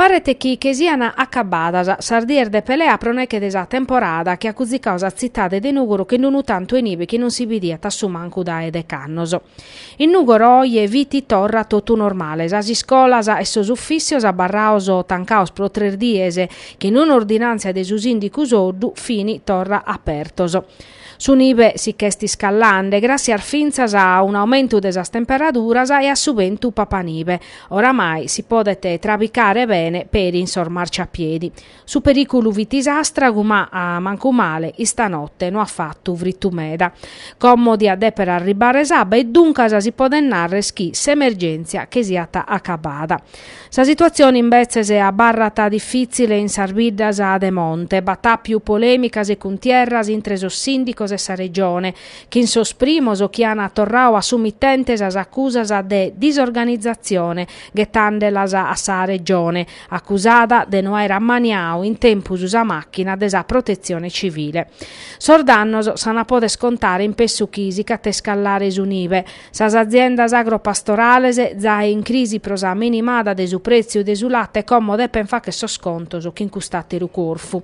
Paret chi che sian acabadas sas dies de pelea pro neche de sa temporada chi at cuzzicadu sa tzitade de Nùgoro chin unu tantu 'e nibe chi non si bidiat a su mancu dae decannos. In Nùgoro oje fit torra totu normale, sas iscolas e sos ufìssios abarrados tancados pro tres dies chin un'ordinàntzia de su sìndicu Soddu fin torra apertos. Su nive si ch'est iscallande, gràssias fintzas a un'aumentu de sas temperaduras e a su bentu papanive, oramai si podet trabicare bene peri in sos marciapiedi. Su perìculu fit s'àstragu ma, mancu male, istanote no at fatu fritu meda, como diat dèpere arribbare s'abba e duncas si podet nàrrere chi s'emergèntzia che siat acabada. Sa situatzione imbetzes abarrat difìtzile in sas biddas de monte. B'at àpiu polèmicas e cuntierras intre sos sìndicos e sa Regione, chin sos primos chi an torradu a su mitente sas acusas de disorganizatzione, ghetàndelas a sa Regione, acusada de no aer ammaniadu in tempus sa màchina de sa Protetzione Civile. Sos dannos s'ant a poder contare in pessu chi si ch'at a iscallare su nive, Sas aziendas agropastorales zae in crisi pro sa minimada de su prètziu de su late como depent fagher sos contos chin cust'àteru corfu.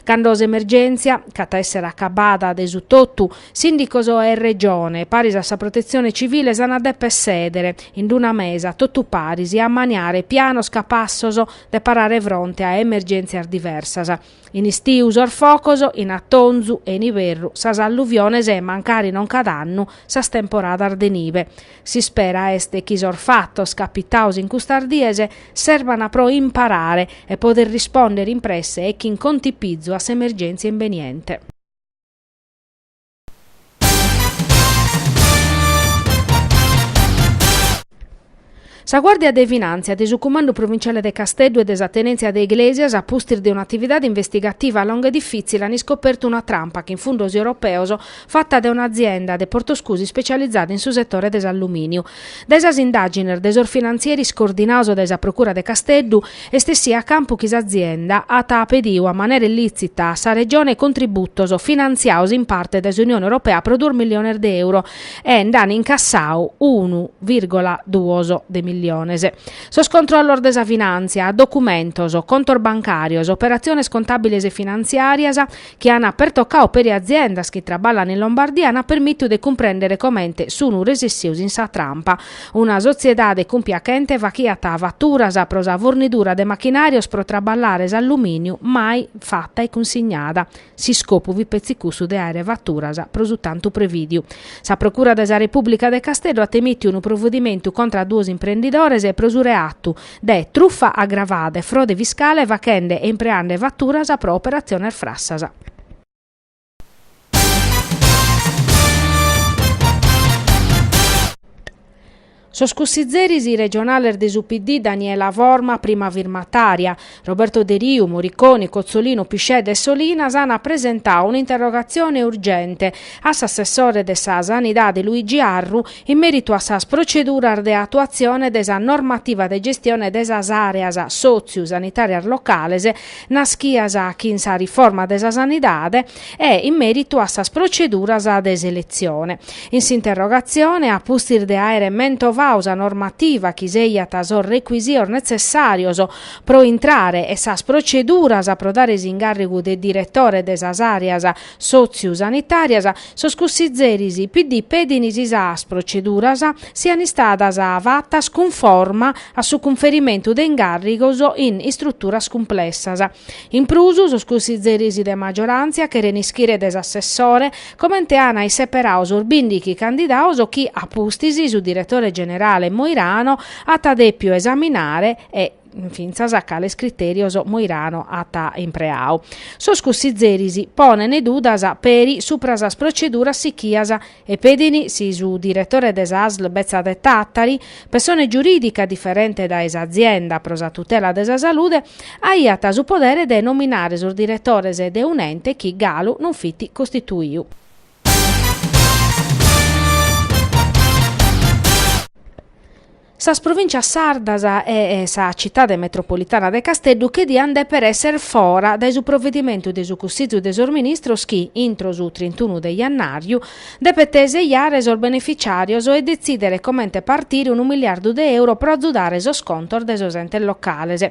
Cando s'emergèntzia ch'at a èssere acabada de su totu, sìndicos e Regione, paris a sa Protetzione Civile s'an a dèpere sèdere in d-una mesa totu paris e ammaniare pianos capassos de parare fronte a emergèntzias diversas, In istiu sos focos, in atonzu e in iberru sas alluviones e, mancari non cada annu, sas temporadas de nive. S'ispera est chi sos fatos capitados in custas dies serban pro imparare e poder risponder in presse e chin contipizu a s'emergèntzia imbeniente. Sa Guàrdia de Finàntzia de su Cumandu Provinciale de Casteddu e de sa Tenèntzia de Iglesias, a pustis de un'atividade investigativa longa e difìtzile an iscopertu una trampa chin fundos europeos fata dae un'azienda de Portoscusi ispecializada in su setore de s'allumìniu. Dae sas indàgines de sos finantzieris coordinados dae sa Procura de Casteddu est essidu a campu chi s'azienda at pedidu a manera illìtzita a sa Regione contributos finantziados in parte dae s'Unione Europea pro duos milliones de euro e nd'an incassadu unu vìrgola duos de milliones. Sos controllos de sa finàntzia, documentos, contos bancàrios, operatziones contàbiles e finantziàrias, ana pertocau peri aziendas chi traballan in Lombardia ana permittiu de cumprendere comente sun resessius in sa trampa. Una sotziedade cumpiachente fachiat fatturas pro sa fornidura de machinarios pro traballare s'alluminiu mai fatta e cunsignada. S'iscopu fit petzi cussu de aere fatturas pro su tantu previdiu. Sa Procura de sa Republica de Casteddu at emittiu unu provedimentu contra a duos imprendidores pro su reatu de trufa agravada e frode fiscale fachende e impreande faturas pro operatziones frassas. Sos cussizeris regionales de su PD Daniela Forma, prima firmatària, Roberto Deriu, Moriconi, Cozzolino, Piscedda e Solinas ant presentau un'interrogatzione urgente a s'assessore de sa Sanidade Luigi Arru in mèritu a sas proceduras de atuatzione de sa normativa de gestione de sas àreas sòtziu-sanitàrias locales naschias chin sa riforma de sa sanidade e in mèritu a sas proceduras de seletzione. In s'interrogatzione, a pustis de àere mentovau sa normativa chi sèiat sos recuisitos netzessàrios pro intrare e sas proceduras pro dare s'incàrrigu de diretore de sas àreas sòtziu-sanitàrias, sos cussizeris PD pedin si sas proceduras sian istadas fatas cunforma a su cunferimentu de incàrrigos in istruturas cumplessas. In prus, sos cussizeris de magioràntzia cheren ischire de s'assessore comente ana isseperau sos bìndighi candidaos chi a pustis su diretore generale Moirano at dèpiu esaminare e fintzas cales critèrios Moirano at impreau. Sos cussizeris ponent dudas peri supra sas proceduras sichias e pedin si su diretore de sa ASL betza de Tàtari, pessone giurìdica diferente dae s'azienda pro sa tutela de sa salude, aiat su podere de nominare sos diretores de un'ente chi galu non fit costituiu. Sas provìntzias sardas e sa citade metropolitana de Casteddu che diant dèpere èssere fora dae su provedimentu de su Cussizu de sos Ministros chi, intro su trintunu de jannàriu, depet sejare sos benefitziàrios e detzìdere comente partire unu miliardu de euro pro azudare sos contos de sos entes locales.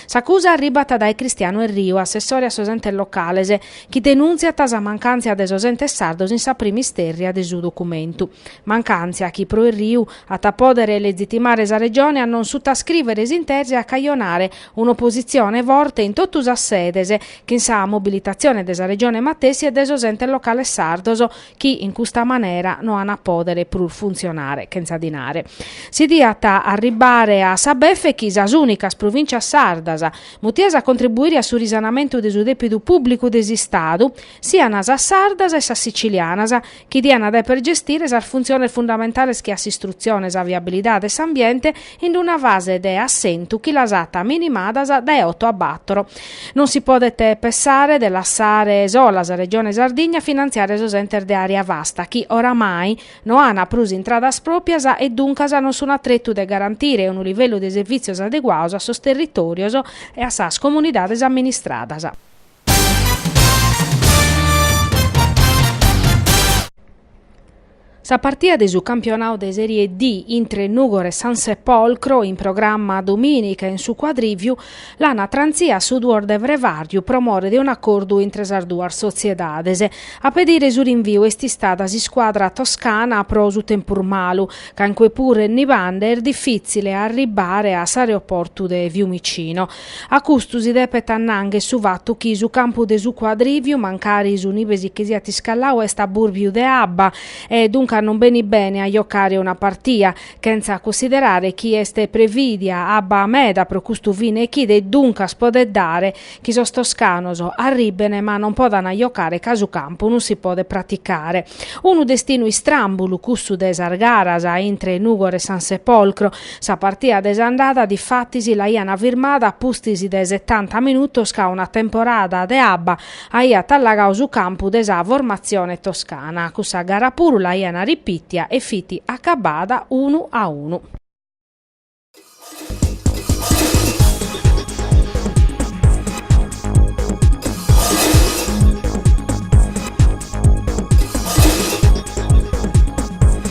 S'acusa arribat dae Cristiano Erriu, assessore a sos entes locales, chi denùntziat sa mancàntzia de sos entes sardos in sa prima istèrria de su documentu. Mancàntzia chi pro Erriu at a pòdere legitimare sa Regione a non sutascrìvere s'intesa e a cajonare un'opositzione forte in totu sas sedes, chin sa mobilitatzione de sa Regione matessi e de sos entes locales sardos chi, in custa manera, no an a pòdere prus funtzionare, chentza dinare. Si diat arribbare a sa befe chi sas ùnicas provìntzias sardas, mutias a contribuire a su risanamentu de su dèpidu pùblicu de s'Istadu, sian sas sardas e sas sicilianas, chi diant a deper gestire sas funtziones fundamentales che a s'istrutzione, sa viabilidade e s'ambiente in una fase de assentu chi las at minimadas dae oto a batoro. Non si podet pessare de lassare sola sa Regione Sardigna a finantziare sos entes de àrea vasta chi, oramai, no an prus intradas pròpias e duncas non sun a tretu de garantire unu livellu de servìtzios adeguados a sos territòrios e a sas comunidades amministradas. Sa partia de su campionau de Serie D intre Nùgoro e San Sepolcro, in programma domìnica in su Cuadrìviu, l'ana trantzia a su duos de frevàriu pro more de un'acordu intre sas duas sotziedades. A pedire su rinviu est istada s'iscuadra toscana pro su tempus malu, ca in cue puru est nibande e est difìtzile arribbare a s'aeroportu de Fiumicino. A custu si depet annangher su fatu chi su campu de su Cuadrìviu, mancari su nibe si che siat iscallau, est a bùrbiu de abba e duncas non benit bene a jocare una partia, chentza cussiderare chi est prevìdia abba meda pro custu fine chida e duncas podet dare chi sos toscanos arribbene ma non podana jocare ca su campu non si podet praticare. Unu destinu istràmbulu cussu de sas garas intre Nùgoro e San Sepolcro, Sa partia de s'andada difatis l'aiant firmada a pustis de setanta minutos ca una temporada de abba aiat allagau su campu de sa formatzione toscana. Cussa gara puru l'aiant ripitia e fit acabbada unu a unu.